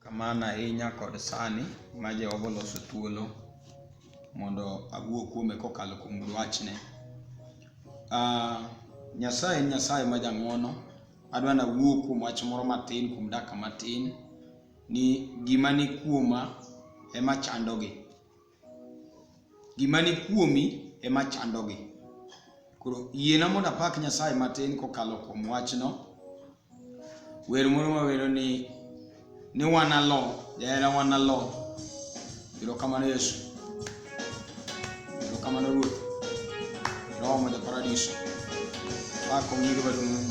Kamano ahinya kod sani ma Jehova oloso thuolo mondo awuo kuome kokalo kuom dwachne. Ah, Nyasaye en Nyasaye ma jang'wono. Adwa nawuo kuom wach moro matin kuom dakika matin ni gima ni kuoma ema chandogi. Gima ni kuomi ema chandogi. Koro yiena mondo apak Nyasaye matin kokalo kuom wachno. Wer moro mawero ni ni wanalo, jahera wanalo. Erokamano Yesu. Erokamano Ruoth. Roho ma ja paradiso. Pak ong'iri maduong'.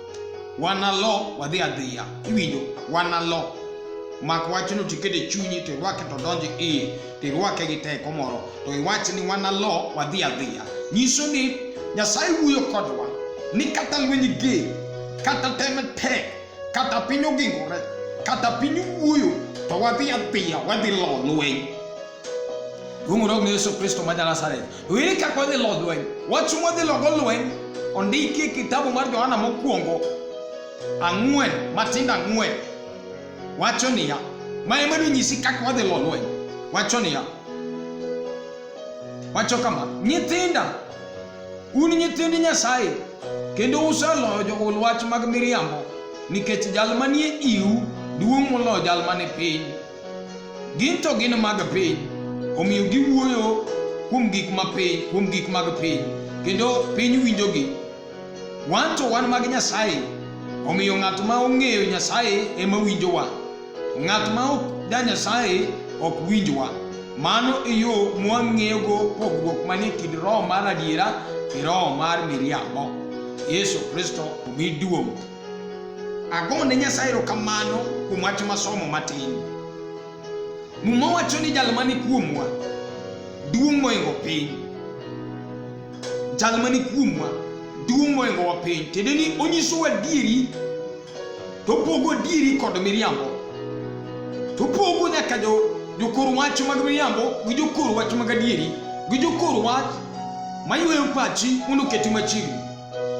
wanalo wadhi adhiya iwinjo wanalo mak wachno tikete chunyi to irwake to donji iye to irwake gi teko moro to iwach ni wanalo wadhi adhiya nyiso ni nyasaye wuoyo kodwa ni kata lweny ge kata tem tek kata piny ogingore kata piny wuoyo to wadhi adhiya wadhi lo lweny Gungurok ni Yesu Kristo ma Nazareth. Ere kaka wadhi lo lweny? Wach mwadhi logo lweny ondiki e kitabu mar Johana mokwongo ang'wen matindo ang'wen wacho niya, ma ema nonyisi kaka wadhi lo lweny. Wacho niya, wacho kama, nyithinda un nyithind Nyasaye kendo useloyo jogol wach mag miriambo nikech jal manie iu duong' moloyo jal mane piny. Gin to gin mag piny, omiyo giwuoyo kuom gik ma piny, kuom gik mag piny, kendo piny winjogi. Wan to wan mag Nyasaye, omiyo ng'at ma ong'eyo Nyasaye ema winjowa. Ng'at ma ok da Nyasaye ok winjwa. Mano e yo mwang'eyogo pogruok manie kind roho mar adiera gi roho mar miriambo. Yesu Kristo omi duong'. Ago ne Nyasaye erokamano kuom wach masomo matin. Muma wacho ni jal mani kuomwa duong' moingo piny. Jal mani kuomwa duong' moingo wa piny. Tiende ni onyisowa adieri to opogo adieri kod miriambo. To opogo nyaka jo jokor wach mag miriambo gi jokor wach mag adieri gi jokor wach mayweyo pachi mondo oketi machiegni.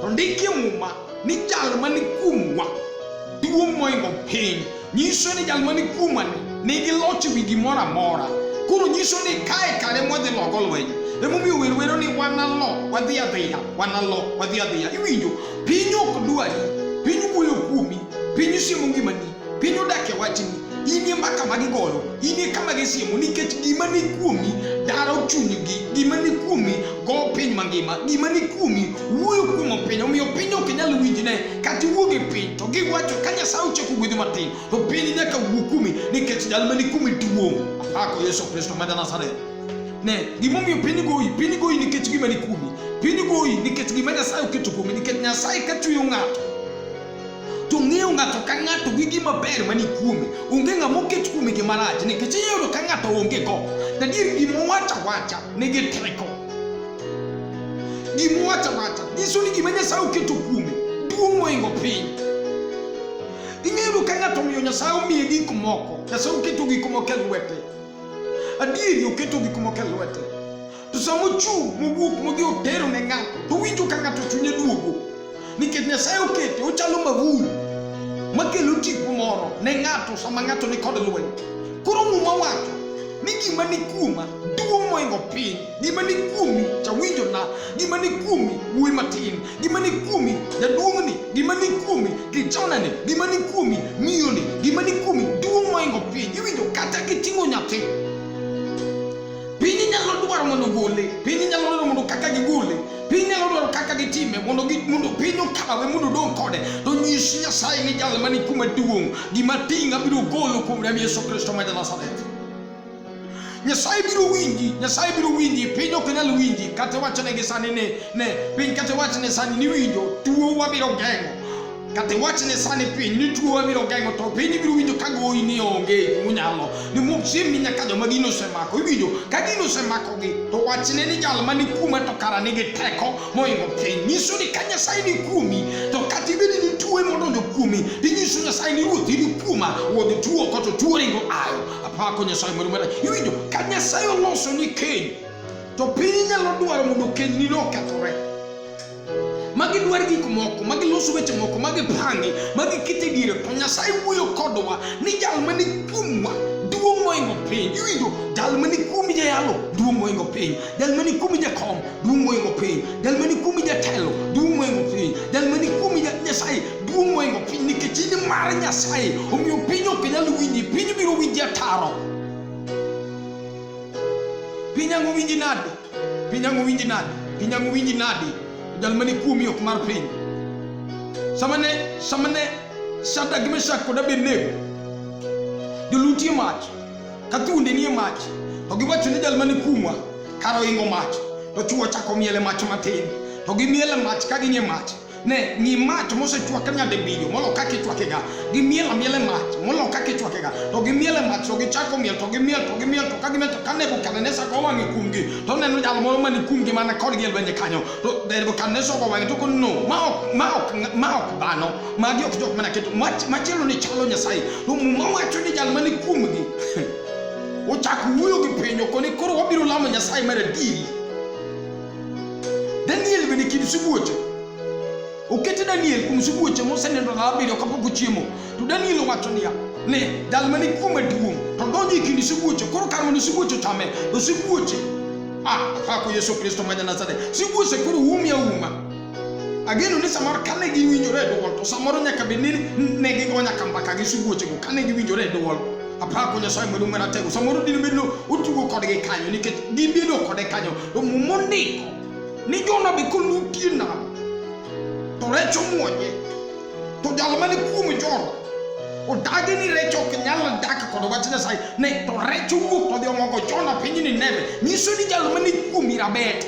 To ndike Muma ni jal mani kuomwa duong' moingo piny nyiso ni jal mani kuomwa ni nigi loch ewi gimoro amora koro nyiso ni kae kare mwadhi logo lweny emomiyo wer wero ni wanalo wadhi adhiya wanalo wadhi adhiya iwinjo piny ok dwari piny wuoyo kuomi piny siemo ngimani Piny odak e wachni, inie mbaka ma gigoyo, inie kama gisiemo, nikech gima ni kuomi daro chunygi, gima ni kuomi go piny mangima, gima ni kuomi wuoyo kuom piny, omiyo piny ok nyal winjne, kata iwuog e piny to giwacho ka Nyasaye ochako gwedhi matin, to piny nyaka wuo kuomi, nikech jal ma ni kuomi duong'. Apako Yesu Kristo ma Nazareth. Ne, gimomiyo piny goyi, piny goyi nikech gima ni kuomi, piny goyi nikech gima Nyasaye oketo kuomi, nikech Nyasaye ka chueyo ng'ato to ng'eyo ng'ato ka ng'ato gi gima ber mani kuome onge ng'ama oket kuome gima rach nikech iyudo ka ng'ato onge go tadier gima wacha wacha nigi teko gima wacha wacha nyiso ni gima nyasaye oketo kuome duong' moingo piny ing'eyo ka ng'ato omiyo nyasaye omiye gik moko nyasaye oketo gik moko e lwete adieri oketo gik moko e lwete To sama ochung' mowuok modhi otero ne ng'ato, to winjo ka ng'ato chunye duogo. Nikech Nyasaye okete, ochalo mavul makelo tipo moro ne ng'ato sama ng'ato ni kod lweny. Koro Muma wacho ni gima ni kuoma duong' moingo piny, gima ni kuomi chawinjo na, gima ni kuomi wuoyi matin, gima ni kuomi jaduong'ni, gima ni kuomi kichonani, gima ni kuomi miyoni, gima ni kuomi duong' moingo piny. Iwinjo kata kiting'o nyathi Piny nyalo dwaro mondo ogole, piny nyalo dwaro mondo kaka gigole, piny nyalo dwaro kaka gitime mondo mondo piny okawe mondo odong' kode. To nyis Nyasaye ni jal mani kuma duong' gima ting' abiro golo kuom rem Yesu Kristo ma Nazareth. Nyasaye biro winji, Nyasaye biro winji, piny ok nyal winji. Kata wachone gi sani ne, ne piny kata wachne sani ni winjo, tuo wabiro geng'o Kata iwach ni sani piny ni tuo wabiro geng'o to piny ibiro winjo ka goyi ni onge munyalo ni mok chiemni nyaka joma gino osemako iwinjo ka gino osemakogi to wachne ni jal ma ni kuoma to kara nigi teko moingo piny nyiso ni ka nyasaye ni kuomi to kata ibedi ni tuo modonjo kuomi tinyiso nyasaye ni ruoth ni kuoma wuod tuo koto tuo ringo ayo apako nyasaye moro mara iwinjo ka nyasaye oloso ni keny to piny nyalo dwaro mondo keny ni nokethore magi dwar gik moko magi loso weche moko magi pangi magi kete diere to nyasaye wuoyo kodwa ni jal mani kuomwa duong' moingo piny iwinjo jal mani kuomi jayalo duong' moingo piny jal mani kuomi jakom duong' moingo piny jal mani kuomi jatelo duong' moingo piny jal mani kuomi nyasaye duong' moingo piny nikech in mar nyasaye omiyo piny ok nyal winji piny biro winji ataro piny ango winji nade Pinyango winji nadi? Pinyango winji nadi? Jal mani kuomi ok mar piny. Samane samane Shadrach gi Meshach kod Abednego jolutie mach ka thuonde nie mach to giwacho ni jal mani kuomwa kar oingo mach to chuo chako miele mach matin to gimiele mach ka ginie mach ne ng'i mach mosechwak nyadibinyo molo kaka ichwakega gimiel amiele mach molo kaka ichwakega to gimiele mach to gichako miel to gimiel to gimiel to ka gimiel to ka nebukadnesa go wang'e kuomgi to neno jal moro mani kuomgi mana kodgi e lwenje kanyo to nebukadnesa go wang'e to ko no ma ok ma ok ma ok dhano magi ok jok mana keto machielo ni chalo nyasaye to muma wacho ni jal mani kuomgi ochak wuoyo gi piny okoni koro wabiro lamo nyasaye mar adieri Daniel bende kit sibuoche. Okete Daniel kuom sibuoche mosenindo ndalo abiriyo kapok ochiemo. To Daniel owacho niya, ni jal mani kuome duong' to donjo e kind sibuoche koro kar mondo sibuoche ochame to sibuoche ah, apako Yesu Kristo ma Janazareth, sibuoche koro umi auma Ageno ni samoro kane giwinjore e dwol to samoro nyaka bed ni ne gigo nyaka mbaka gi sibuochego kane giwinjore e dwol. Apako Nyasaye maduong' maratego samoro dine bed ni otugo kodgi kanyo nikech gibedo kode kanyo to muma ondiko ni Jona be kolutie nam to rech omwonye to jal mane kuom Jona odagi ni rech ok nyal dak kod wach Nyasaye ne to rech owuok todhi omogo Jona piny Nineve nyiso ni jal mane kuomi rabet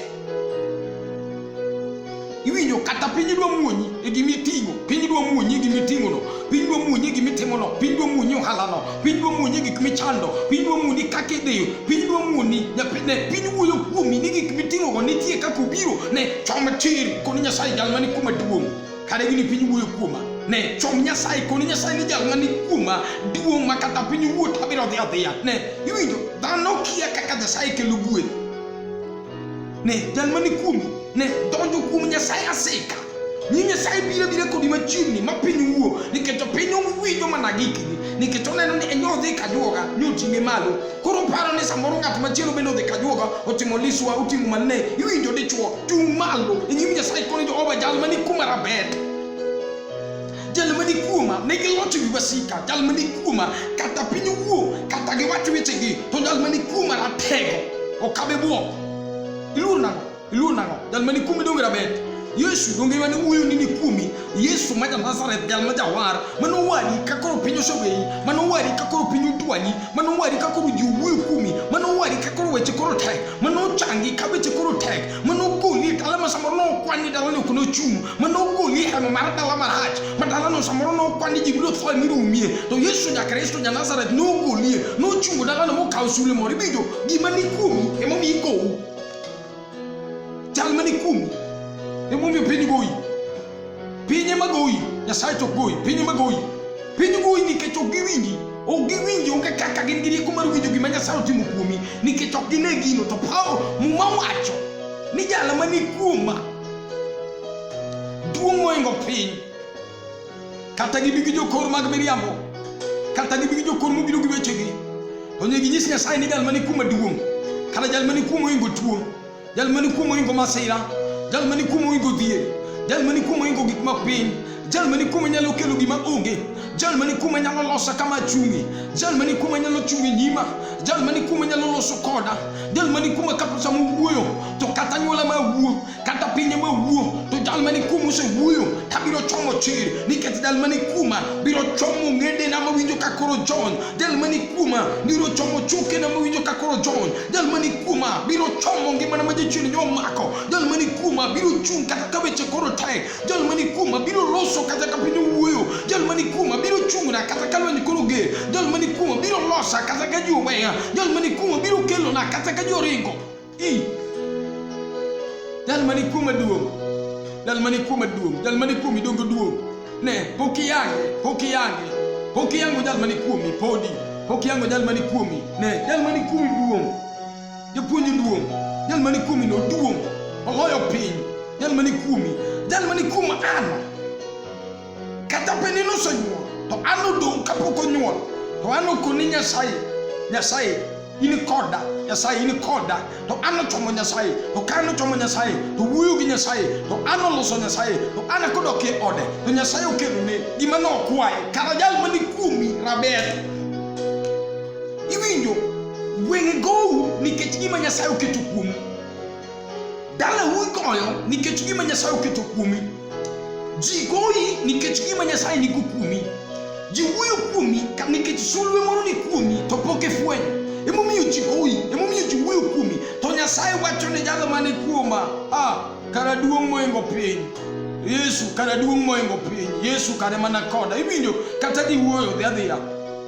iwinjo kata piny dwa muonyi e gima iting'o piny dwa muonyi e gima iting'ono piny dwa muonyi e gima itimono piny dwa muonyi ohalano piny dwa muonyi e gik michando piny dwa muoni kaka ideyo piny dwa muoni ne piny wuoyo kuomi ni gik miting'ogo nitie kaka obiro ne chom tir koni nyasaye jal mani kuma duong' kare gini piny wuoyo kuoma ne chom nyasaye koni nyasaye ni jal mani kuoma duong' ma kata piny wuot abiro dhi adhiya ne iwinjo dhano kia kaka nyasaye kelo gueth Ne, jal mani kuomi, ne, donjo kuom Nyasaye asika. Ni Nyasaye biro biro kodi machiegni ma piny wuo, nikech piny owinjo mana gikni, nikech oneno ni enyo odhi kajuoga, ni oting'e malo. Koro paro ni samoro ng'at machielo bende odhi kajuoga, otimo liswa, otimo mane, iwinjo dichuo, chung' malo, e nyim Nyasaye koni Jehova jal mani kuma rabet. jal ma ni kuoma ne gilocho wi wasika jal ma ni kuoma kata piny owuo kata giwach wechegi to jal ma ni kuoma ratego okabe bwok iluor nang'o iluor nang'o jal ma ni kuomi donge rabet yesu donge mane wuoyo ni ni kuomi yesu ma janazareth jal ma jawar mane owari ka koro piny oseweyi mane owari ka koro piny odwanyi mane owari ka koro ji owuoyo kuomi mane owari ka koro weche koro tek mane ochangi ka weche koro tek mane ogoli e dala ma samoro ne okwani dalani ok ne ochung' manaokolia kama marata la maraji madala no samoro no kwani jibilo fa ni rumie to yesu nya kristo nya nazareth no kolie no chungo daga no kausule mori bijo gimani kumi emo mi ko jalmani kumi emo mi pini goyi pinye magoyi nyasaye to goyi pinye magoyi pinye goyi ni kecho giwingi o giwingi onge kaka gin giri kumar winjo gima nyasaye otimo kuomi nikech ok gine gino to pawo muma wacho ni jala mani kuoma Duong' moingo piny, kata gibi gi jokor mag miriambo, kata gibi gi jokor mobiro gi wechegi, to nyaka ginyis Nyasaye ni jal mani kuom maduong', kata jal mani kuom oingo tuo, jal mani kuom oingo masira, jal mani kuom oingo dhier, jal mani kuom oingo gik ma piny, Jal mani kume nyalo kelo gima onge. Jal mani kume nyalo losa kama achungi. Jal mani kume nyalo chungi nyima. Jal mani kume nyalo loso koda. Jal mani kume kata sama wuoyo to kata nyuola ma wuo kata pinye ma wuo to jal mani kume osewuoyo ka biro chomo chir nikech jal mani kuma biro chomo ng'edena mawinjo ka koro John. Jal mani kuma biro chomo chokena mawinjo ka koro John. Jal mani kuma biro chomo ngimana ma jachien nyomako. Jal mani kuma biro chung' kata ka weche koro tek. jal mani kuoma biro loso kata ka piny owuoyo jal mani kuoma biro chung'na kata ka lweny koro ger jal mani kuoma biro losa kata ka ji oweya jal mani kuoma biro kelona kata ka ji oringo i jal mani kuoma duong' jal mani kuoma duong' jal mani kuomi dongo duong' ne pok iyange pok iyange pok iyango jal mani kuomi podi pok iyango jal mani kuomi ne jal mani kuomi duong' Japuonj oduong', jal mani kuomi no oduong', oloyo piny, jal mani kuomi, jal mani kuom an. Kata pe ni nosenyuol, to an odong' kapok onyuol, to an okoni Nyasaye, Nyasaye, in koda, Nyasaye, in koda, to an ochomo Nyasaye, to ka an ochomo Nyasaye, to wuoyo gi Nyasaye, to an oloso Nyasaye, to an akodok e ode, to Nyasaye okelone gima nokwaye, kara jal mani kuomi raber. Iwinjo wenge gowu nikech gima Nyasaye oketo kuomu. Dalau igoyo nikech gima Nyasaye oketo kuomi. Ji goyi nikech gima Nyasaye nigo kuomi. Ji wuoyo kuomi ka- nikech sulwe moro ni kuomi to pok ifwenyo. Emomiyo ji goyi, emomiyo ji wuoyo kuomi. To Nyasaye wacho ne jalo mane kuoma, ah, kara duong' moingo piny. Yesu kara duong' moingo piny. Yesu kare mana koda. Iwinjo kata giwuoyo dhi adhiya.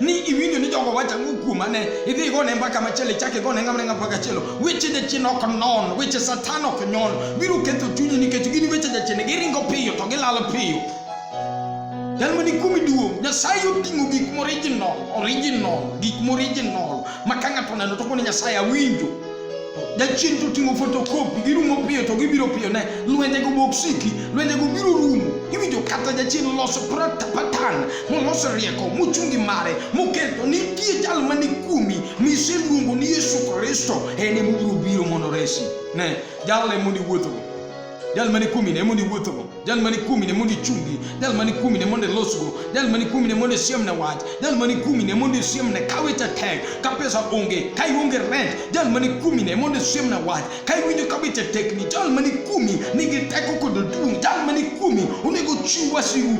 ni iwinjo ni jogo wacho ang'o kuoma ne idhi igone mbaka machielo ichak igone ng'amneng'a mbaka chielo weche jachien ok non weche satan ok nyon biro ketho chunyi nikech gin weche jachien giringo piyo to gilalo piyo jal mani kuomi duong' nyasaye oting'o gik morijinol orijinol gik morijinol ma ka ng'ato oneno to koni nyasaye awinjo Jachien to ting'o fotokopi, girumo piyo to gibiro piyo ne lwenjego boksiki, lwenjego biro rumo. Iwinjo kata jachien loso patan moloso rieko mochungi mare moketo nitie jal mani kuomi miseluongo ni Yesu Kristo en emobiro biro mondo resi. Ne, jal emoni wuothogo. jal mani kuomi ne mondo iwuothogo jal mani kuomi ne mondo ichungi jal mani kuomi ne mondo ilosgo jal mani kuomi ne mondo isiemne wach jal mani kuomi ne mondo isiemne ka weche tek ka pesa onge ka ionge rent jal mani kuomi ne mondo isiemne wach ka iwinjo ka weche tekni jal mani kuomi nigi teko kod duong' jal mani kuomi onego ochiw wasigu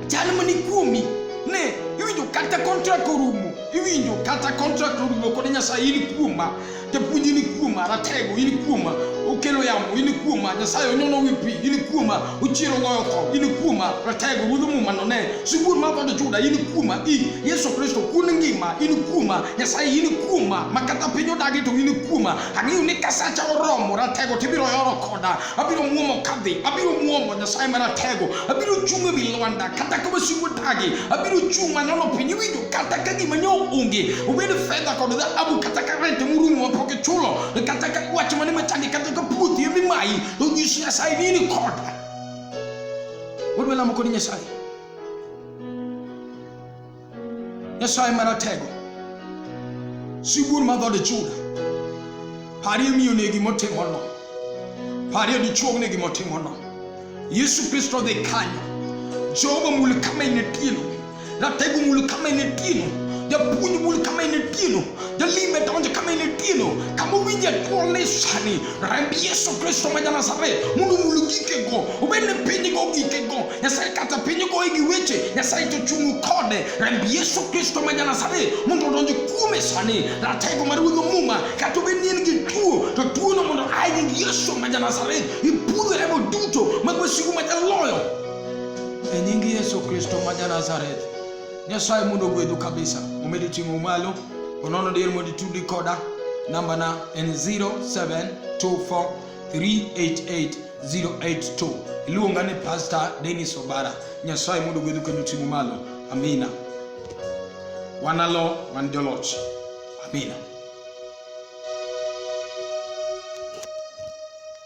jal mani kuomi ne iwinjo kata kontrak orumo iwinjo kata kontrak orumo kod nyasaye in kuoma Japuonj in kuoma, ratego in kuoma, okelo yamo in kuoma, Nyasaye onyono wi pi in kuoma, ochiero goyo tho in kuoma, ratego wuodho muma none, sibuor mar dhood Juda in kuoma, i Yesu Kristo kun ngima in kuoma, Nyasaye in kuoma, ma kata piny odagi to in kuoma, ang'eyo ni kasacha oromo, ratego tibiro yoro koda. abiro muomo kadhi abiro muomo nyasaye maratego abiro chung' ewi lwanda kata ka wasigu dagi abiro chung' manono piny iwinjo kata ka gima nyo onge obed fedha kod dhahabu kata ka rent murumo mapok ichulo kata ka wach mane machandi kata ka puothi emi mayi to nyis nyasaye ni in koda wadwa lamo kod nyasaye Nyasaye Maratego, sibuor ma dhood Juda, parie miyone gimotimono, parie dichuogne gimotimono. Yesu Kristo dhi kanyo, Jehova mul kama inetieno, ratego mul kama inetieno, japuonj mul kama inetieno, jalime donjo kama inetieno, kama owinje tuol ni sani, remb Yesu Kristo ma Janazareth mondo omul gikego, obed ni pinygo gikego nyasaye kata piny ogoye gi weche nyasaye to chungu kode remb yesu kristo ma janasare mondo odonj kuome sani ratego mar ruodho muma kata obed ni en gi tuo to tuono mondo aye nying yesu ma janasare ipudho remo duto mag wasigu ma jaloyo e nying yesu kristo ma janasareth nyasaye mondo ogwedhu kabisa omedi ting'o malo onono dier mondo itudi koda nambana en 0724 388 082 iluonga ni pastor denis obara nyasaye mondo gwedhu kendo ting'u malo amina wanalo wan joloch amina